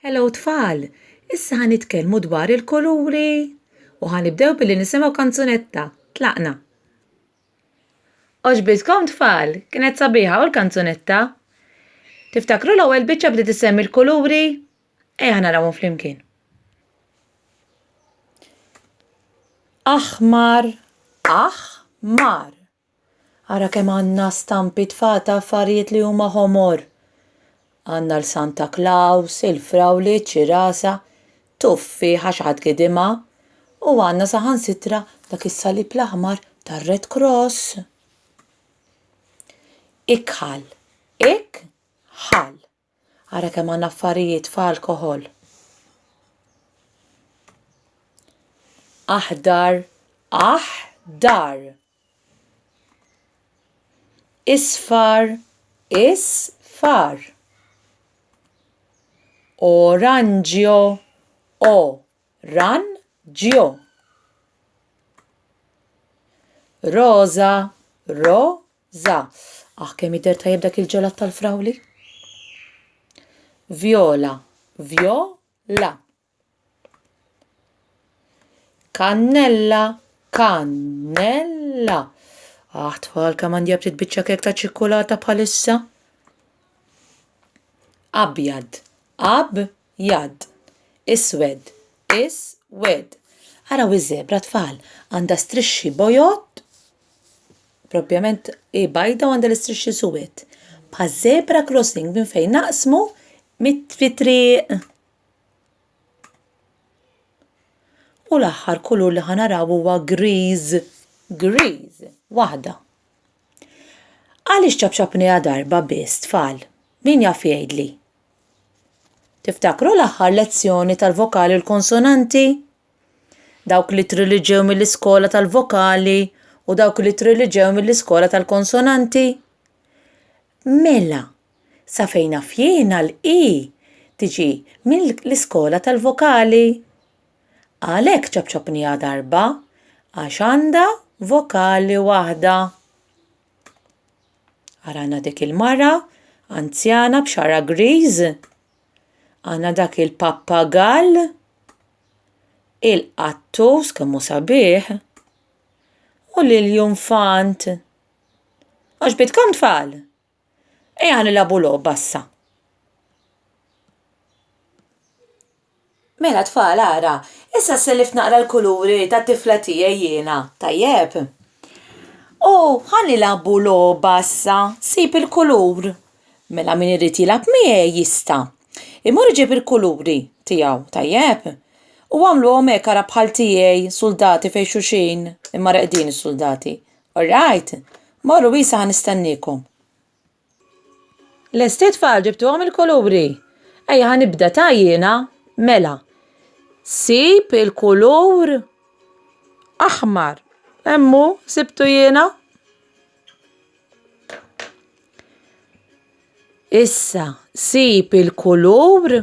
Hello tfal! Issa ħa nitkellmu dwar il-kuluri u ħa nibdew billi nisimgħu kanzunetta. Tlaqna! Oġbitkom tfal, kienet sabiħa u l-kanzunetta? Tiftakru l-ewwel biċċa bdiet issemmi l-kuluri? Ejja narawhom flimkien. Aħmar, aħmar. Ara kemm għandna stampi tfal ta' affarijiet li huma ħomor! Għandna l-Santa Klaws, il-frawli, ċ-ċirasa, tuffieħa xi ħadd gidimha, u għandna saħansitra dak is-salib l-aħmar tar-Red Cross. Ikħal. Ik. Ħal. Ara kemm għandna affarijiet f'alkoħol. Aħdar, aħdar. Isfar, isfar. Oranġjo, o, ran, ġjo. Roża, ro, Za, aħ kemm jidher tajjeb dak il-ġelat tal-frawli. Vjola, vjo, la. Kannella, kannella. Aħ tfal kemm għandi ftit biċċa kek ta' ċikkulata bħalissa. Abjad, ab, Jadd. Iswed. Is. Wed. Araw iż-żebra, tfal. Għandha strixxi bojod, propjament hi bajda u għandha l-istrixxi suwed. Bħaż-żebra crossing minn fejn naqsmu mit-fit-triq. U l-aħħar kulur li ħa naraw huwa griż. Griż. Waħda. Għaliex ċapċapniha darba biss, tfal? Min jaf jgħidli? Tiftakru l-aħħar lezzjoni tal-vokali u l-konsonanti? Dawk li triliġew mill-iskola tal-vokali u dawk li triliġew mill-iskola tal-konsonanti? Mela, sa fejn fjena l-i tiġi mill-iskola tal-vokali. Għalhekk ċapċapniha darba għax għandha vokali waħda. Arana dik il-mara, anzjana b'xara griż. Għana dak il-pappagall, il-qattus kemmu sabiħ, u l-junfant. Għax bitkom tfal? Eja nilabu logħba issa. Mela tfal ara, issa sellift naqra l-kuluri tat-tifla tiegħi jiena, tajjeb? U ħa nilagħbu logħba issa, sib il-kulur. Mela min irid jilgħab miegħi jista'. Imur iġib il-kuluri tiegħu, tajjeb? U agħmluhom hekk ara bħal tiegħi, suldati fejn xulxin, imma reqdin is-suldati. Orrajt? Morru issa ħa nistenniekom. Lest it-tfal ġibtuhom il-kuluri? Ejja ħa nibda ta' jiena. Mela. Sib il-kulur aħmar. Emmu, sibtu jiena. Issa, sib il-kulur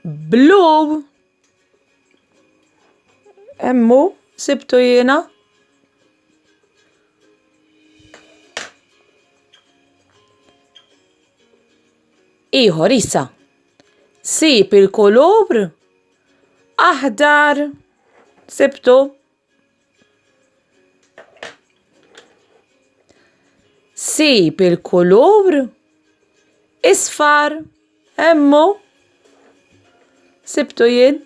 Blue. Emmu, sibtu jiena. Iħor, issa. Sib il-kulur aħdar. Sibtu. Sib il-kulur isfar hemmu sibtu jien.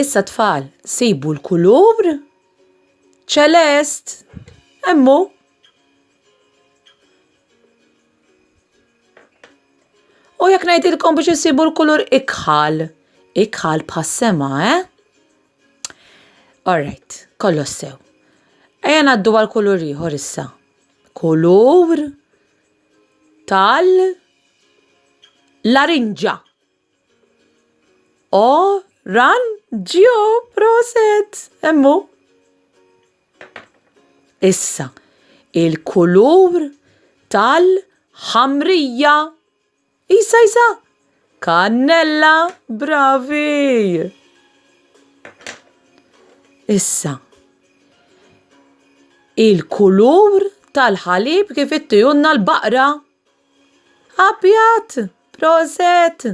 Issa tfal, sibu l-kulur ċelest hemmu. U jekk ngħidilkom biex issibu l-kulur ikħal, ikħal bħas-sema, eh? Alright, kollox sew. Ejja ngħaddu għal kulur ieħor issa. Kulur tal larinġa. O, ran, ġio, proset, emmu. Issa, il-kulur tal-ħamrija. Isa, isa, kannella, bravi. Issa, il-kulur tal-ħalib kif ittijunna l-baqra. Abjad. Proset!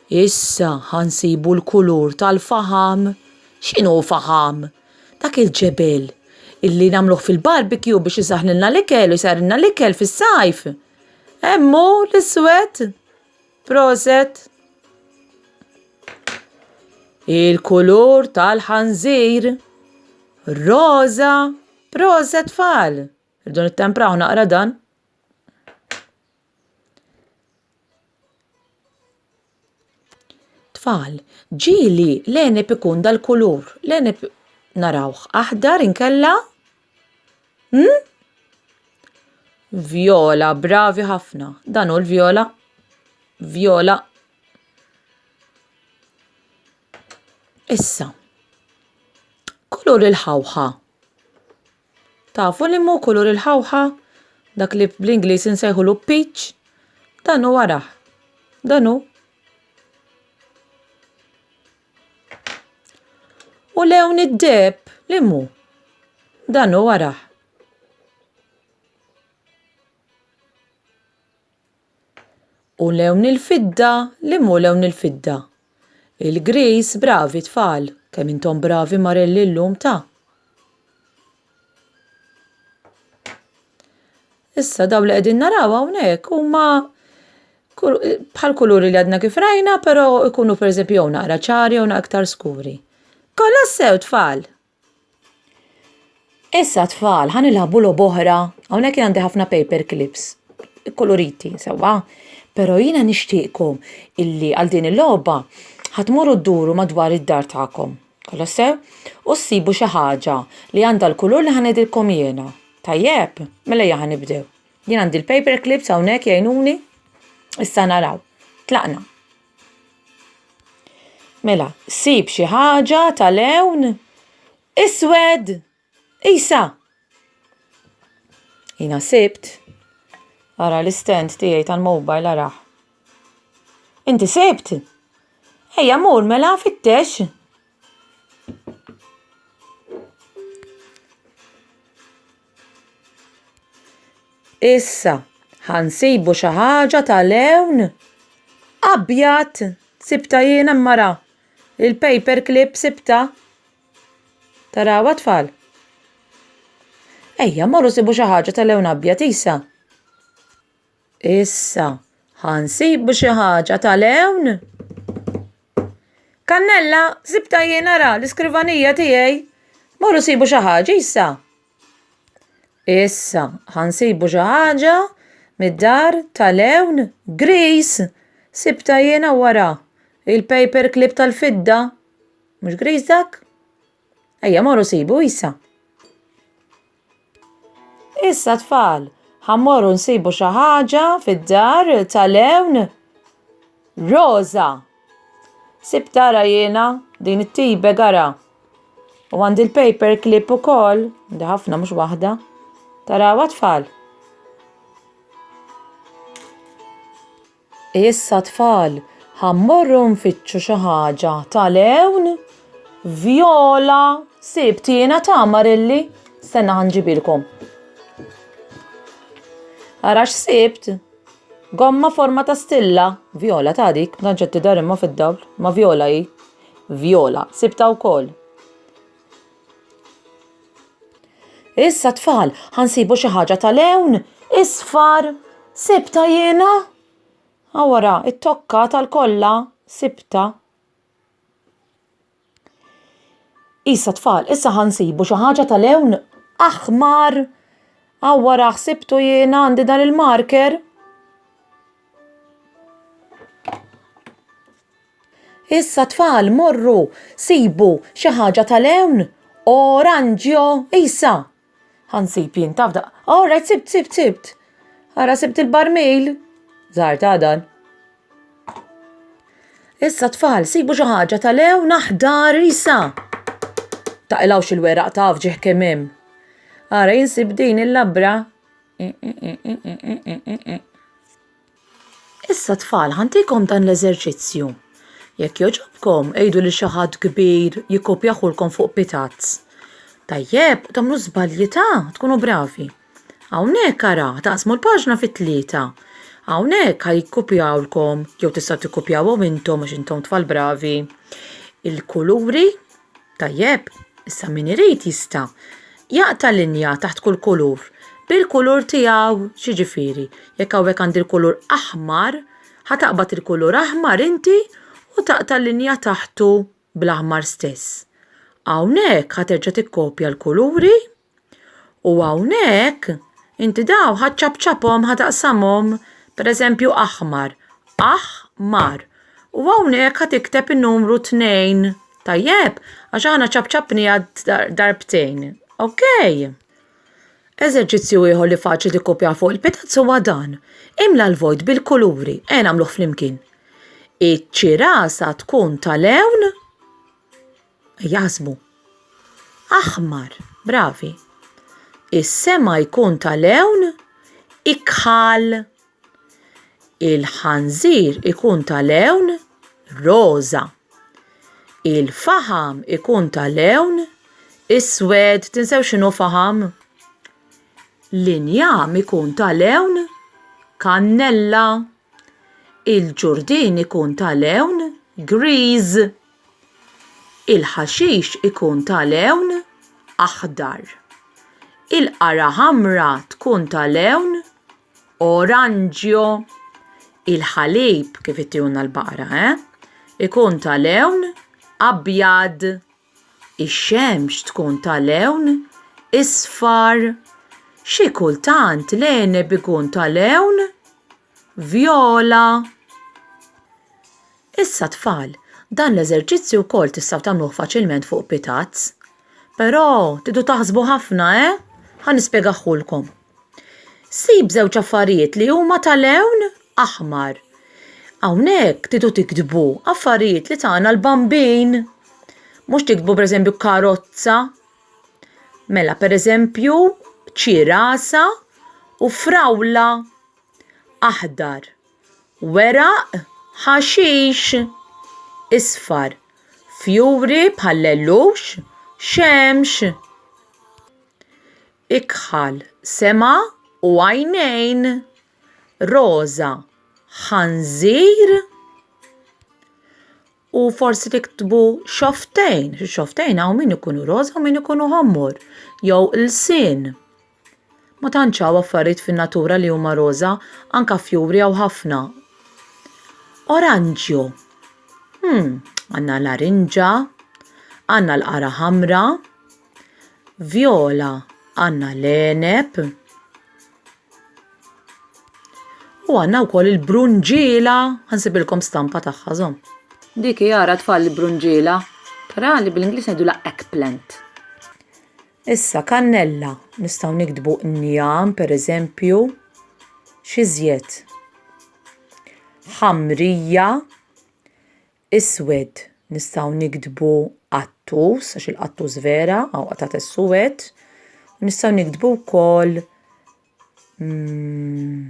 Issa ħansibu l-kulur tal-faħam. X'inhu faħam? Dak il-ġebel illi nagħmluh fil-barbecue biex isaħħlilna l-ikel u jsarrilna l-ikel fis-sajf. Hemmu l-iswed. Proset! Il-kulur tal-ħanżir. Roża. Proset tfal! Irdu nittempraw naqra dan. Tfal, ġili l-enib ikun dal-kulur. L-enib narawh aħdar inkella? Hmm? Viola, bravi ħafna. Dan hu l-viola. Viola. Issa. Kulur il-ħawħa. Tafu liema hu kulur il-ħawħa? Dak li bl-Ingliż insejħulu peach? Dan hu araħ. Dan hu. U lewn id-deheb li mu? Dan hu araħ. U lewn il-fidda li mhu lewn il-fidda. Il-Griż bravi tfal, kemm intom bravi marelli llum ta'. Issa dawn li qegħdin naraw hawnhekk huma bħal kuluri li għadna kif rajna, però ikunu pereżempju jew naqra ċari jew naqra iktar skuri. Kollha sew tfal! Issa tfal, ħan ilħabu lob oħra. Hawnhekk għandi ħafna paper clips, koloriti, sewwa. Pero jiena nixtieqkom illi għal din il-logħba ħatmuru dduru madwar id-dar tagħkom. Kolla sew? U ssibu xi ħaġa li għandha l-kulur li ħan ngħidilkom jiena. Tajjeb? Mela ejja ħan nibdew. Jien għandi l-paper clips hawnhekk jgħinuni. Issa naraw. Tlaqna. Mela, sib xi ħaġa ta' lewn iswed. Isa! Jina sibt. Ara l-istent tiegħi tal-mobile araħ. Inti sibt? Ejja mur mela fittex. Issa, ħansibu xi ħaġa ta' lewn abjad. Sibtha jiena mara. Il-paper clip sibtha. Tarawha tfal? Ejja, morru sibu xi ħaġa ta' lewn abjad, Isa. Issa, ħa nsibu xi ħaġa tal-hewn. Kannella, sibta jien ara l-iskrivanija tiegħi. Morru sibu xi ħaġa issa. Issa, ħa nsibu xi ħaġa mid-dar tal-hewn gris. Sibta jiena wara il-paper clip tal-fidda. Mhux gris dak? Ejja, morru sibu issa. Issa tfal, ħammorru nsibu xi ħaġa fid-dar tal-lewn. Rosa! Sib tara jiena din it-tibe gara. U għandi l-paper clip ukoll, għandi ħafna mhux waħda. Taraw tfal. Issa tfal, ħa mmorru nfittxu xi ħaġa tal-għewn? Vjola, sibt jiena tagħmar illi? Stenna ħa nġibilkom. Ara x'sibt? Gomma forma ta' stilla. Vjola ta' dik, ma tantx qed tidher imma fid-dawl, ma Vjola hi. Vjola, sibtha wkoll. Issa tfal, ħansibu xi ħaġa tal-ewn, isfar, sibta jiena. Awara, it-tokka tal-kolla, sibta. Issa tfal, issa ħansibu xi ħaġa tal-ewn aħmar. Awara, ħsibtu jiena għandi dan il-marker. Issa tfal morru sibu xi ħaġa tal-hewn. Oranġjo, Isa! Ħansib jien taf daq. All right, sibt, sibt, sibt. Ara sibt il-barmil. Zar ta' dan. Issa tfal, sibu xi ħaġa tal-hewn naħdar Isa. Taqilawx il-weraq taf ġieħ kemm hemm. Ara jinsib din il-labra Issa tfal, ħantikom dan l-eżerċizzju. Jekk jogħġobkom, għidu lil xi ħadd kbir jikkopjahulkom fuq pitazz. Tajjeb, tagħmlu żbalji ta', tkunu bravi. Hawnhekk ara, taqsmu l-paġna fi tlieta. Hawnhekk ħa jikkopjawlkom, jew tistgħu tikkopjawhom intom għax intom tfal bravi, il-kuluri Tajjeb, issa min irid jista' jaqta' linja taħt kull kulur bil-kulur tiegħu. X'jiġifieri, jekk hawnhekk għandi l-kulur aħmar, ħa taqbad il-kulur aħmar inti u taqta' linja taħtu bl-aħmar stess. Hawnhekk ħa terġa' tikkopja l-kuluri. U hawnhekk inti daw ħaċċabċabhom ħataqsamhom pereżempju aħmar, aħ-mar. U hawnhekk ħa tikteb in-numru tnejn, tajjeb? Għax aħna ċabċabniha darbtejn, ok? Eżerċizzju ieħor li faċli tikkupjah fuq il-pitazz huwa dan. Imla l-vojt bil-kuluri, ejja nagħmluh flimkien. Iċ-ċirasa tkun tal-lewn jaħsbu. Aħmar, bravi. Is-sema jkun tal-ewn ikħal. Il-ħanżir ikun tal-ewn roża. Il-faħam ikun tal-ewn iswed. Tinsew x'inhu faħam? L-injam ikun tal-ewn kannella. Il-ġurdien ikun ta' lewn griż. Il-ħaxix ikun ta' lewn aħdar. Il-qara ħamra tkun ta' lewn oranġjo. Il-ħalib kif ittihulna l-baqra, eh? Ikun ta' lewn abjad. Ix-xemx tkun ta' lewn isfar. Xi kultant l-għeneb ikun ta' lewn vjola. Issa tfal, dan l-eżerċizzju wkoll tistgħu tagħmluh faċilment fuq pitazz. Però tridu taħsbu ħafna, eh? Ħa nispjegaħħulkom. Sib żewġ affarijiet li huma ta' lewn aħmar. Hawnhekk tidu tiktbu affarijiet li tagħna l-bambin. Mhux tiktbu pereżempju karozza. Mela pereżempju ċirasa u frawla aħdar. Weraq ħaxix isfar. Fjuri bħal lellux xemx. Ikħal, sema u għajnejn. Roża, ħanżir. U forsi tiktbu xoftejn, xoftejn hawn min ikunu roża u min ikunu ħommor, jew ilsien. Ma tantx hawn affarijiet fin-natura li huma roża, anka fjuri hawn ħafna. Oranġju. Hmm, għandna l-arinġa, għandna l-qara ħamra. Vjola għandna l-għeneb u għandna wkoll il-brunġiela, ħansibilkom stampa tagħha żomm. Dik jara tfal il-brunġiela, però li bl-Ingliż ngħidu la eggplant. Issa kannella nistgħu niktbu njam pereżempju, xi żjed. Ħamrija, Iswed, nistgħu niktbu qattus, għax il-qattus vera, hawn qatgħat is-suwed, u nistgħu niktbu wkoll mm,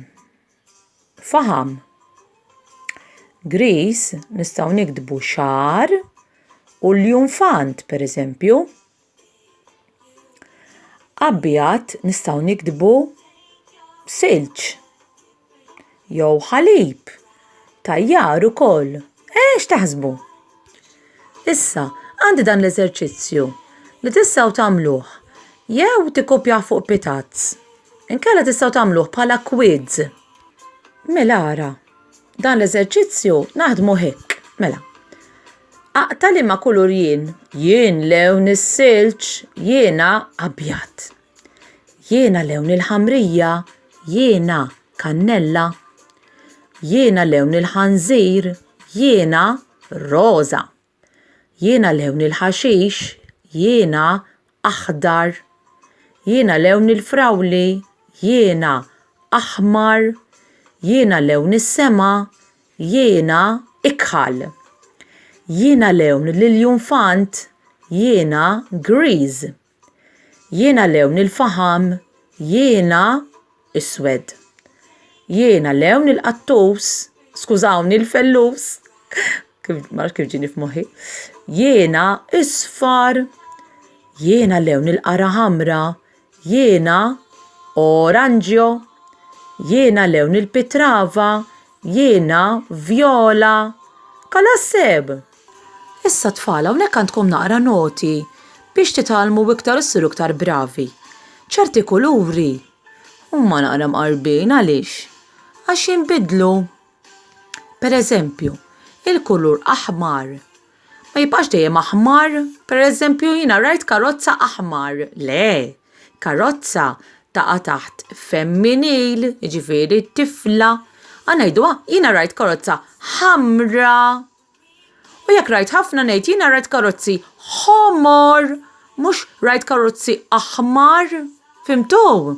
faham. Gris nistgħu niktbu xar u l-junfant, pereżempju. Abjad nistgħu niktbu silġ jew ħalib tajjar ukoll. Eh, x'taħsbu? Issa, għandi dan l-eżerċizzju li tistgħu tagħmluh jew tikkopjawh fuq pitazz, inkella tistgħu tagħmluh bħala quiz. Mela ara. Dan l-eżerċizzju naħdmu hekk. Mela. Aqta li ma kulur jien. Jien lewn is-silġ, jiena abjad. Jiena lewn il-ħamrija, jiena kannella. Jiena lewn il-ħanżir, jiena roża. Jiena lewni l-ħaxix, jiena aħdar. Jiena lewni l-frawli, jiena aħmar. Jiena lewni s-sema, jiena ikħal. Jiena lewni l-iljunfant, jiena griż. Jiena lewn il-faħam, jiena iswed. Jiena lewn il-qattus, skużawni l-fellus, kif marx kif ġini f'moħħi. Jiena isfar, jiena lewn il-qara ħamra, jiena oranġjo, jiena lewn il-pitrava, jiena vjola. Kalasseb! Issa tfal hawnhekk għandkom naqra noti biex titgħallmu iktar u ssiru iktar bravi. Ċerti kuluri huma naqra mqarbin għaliex? Għax jinbidlu. Pereżempju, il-kulur aħmar ma jibqax dejjem aħmar, pereżempju jiena rajt karozza aħmar, le, karozza taqa' taħt femminil, jiġifieri tifla, a ngħiduha jiena rajt karozza ħamra. U jekk rajt ħafna ngħid jiena rajt karozzi ħomor mhux rajt karozzi aħmar, fimtu?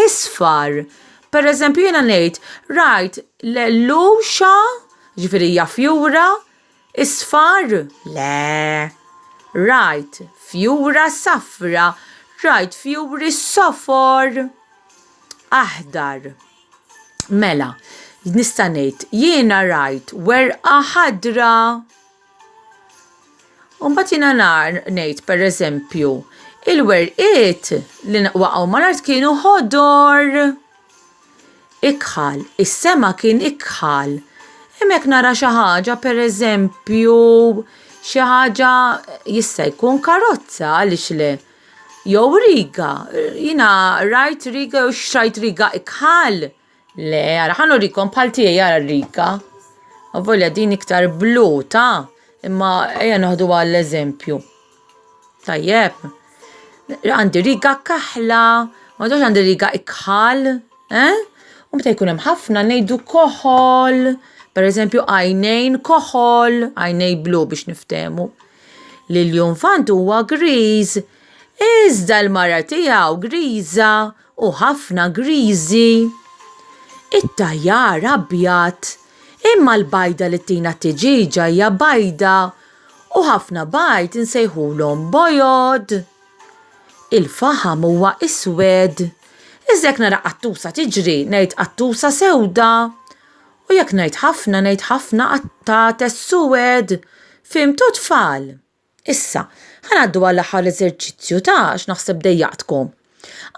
Isfar. Pereżempju jiena ngħid rajt l-għelluxa, jiġifieri hija fjura, isfar? Le. Rajt fjura safra, rajt fjuri sofor, aħdar. Mela, nista' ngħid, jiena rajt werqa ħadra. U mbagħad jiena nar ngħid pereżempju, il-werqiet li waqgħu mal-art kienu ħodor. Ikħal, is-sema kien ikħal. Hemmhekk nara xi ħaġa pereżempju xi ħaġa jista' jkun karozza għaliex le. Jew riga, jina rajt riga jew xrajt riga ikħal. Le, għara, ħan urikom bħal tijaj għara riga. Għavolja din iktar blu, ta? Imma eja noħdu għall eżempju. Tajjeb. Għandi riga kaħla, ma dox għandi riga ikħal, eh? U meta jkun hemm ħafna ngħidu koħol, per eżempju għajnejn koħol, għajnej blu biex niftemu. li l-junfant huwa griż, iżda l-mara tiegħu griża u ħafna griżi. It-tajjar abjad, imma l-bajda li tina t-tiġiġa hija bajda u ħafna bajd insejħulhom bojod. Il-faħam huwa iswed. Iżda jekk nara qattusa tiġri, ngħid qattusa sewda. U jekk ngħid ħafna, ngħid ħafna qattate suwed! Fhimtu tfal? Issa, ħa ngħaddu għall-aħħar eżerċizzju ta' x'naħseb dejjaqtkom.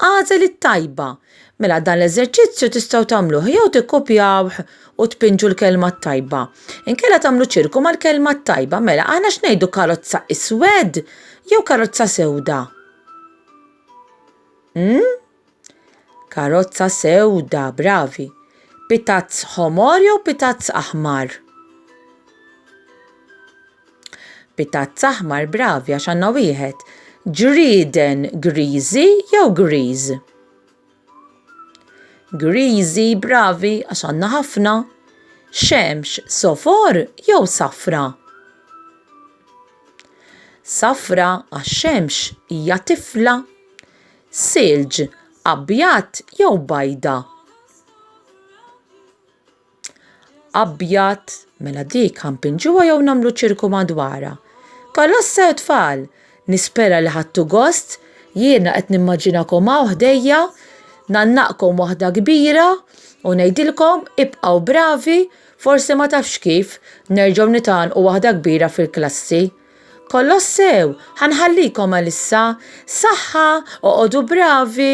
Agħżel it-tajba. Mela dan l-eżerċizzju tistgħu tagħmluh jew tikkupjawh u tpinġu l-kelma t-tajba. Inkella tagħmlu ċirku mal-kelma t-tajba. Mela aħna x'ngħidu karozza iswed jew karozza sewda? Hmm? Karozza sewda, bravi. Pitazz ħomor jew pitazz aħmar? Pitazz aħmar, bravi, għax għandna wieħed. Ġrieden griżi jew griż? Griżi, bravi, għax għandna ħafna. Xemx sofor jew safra? Safra għax xemx hija tifla. silġ, abjad jew bajda. Abjad, mela dik ħanpinġuha jew nagħmlu ċirku madwarha. Kolossa u tfal, nispera li ħadtu gost, jiena qed nimmaġinakom hawn ħdejja, ngħannaqkom waħda kbira u ngħidilkom ibqgħu bravi, forsi ma tafx kif, nerġgħu nitgħannqu waħda kbira fil-klassi. Kolossew, ħa nħallikom għalissa. Saħħa, oqogħdu bravi!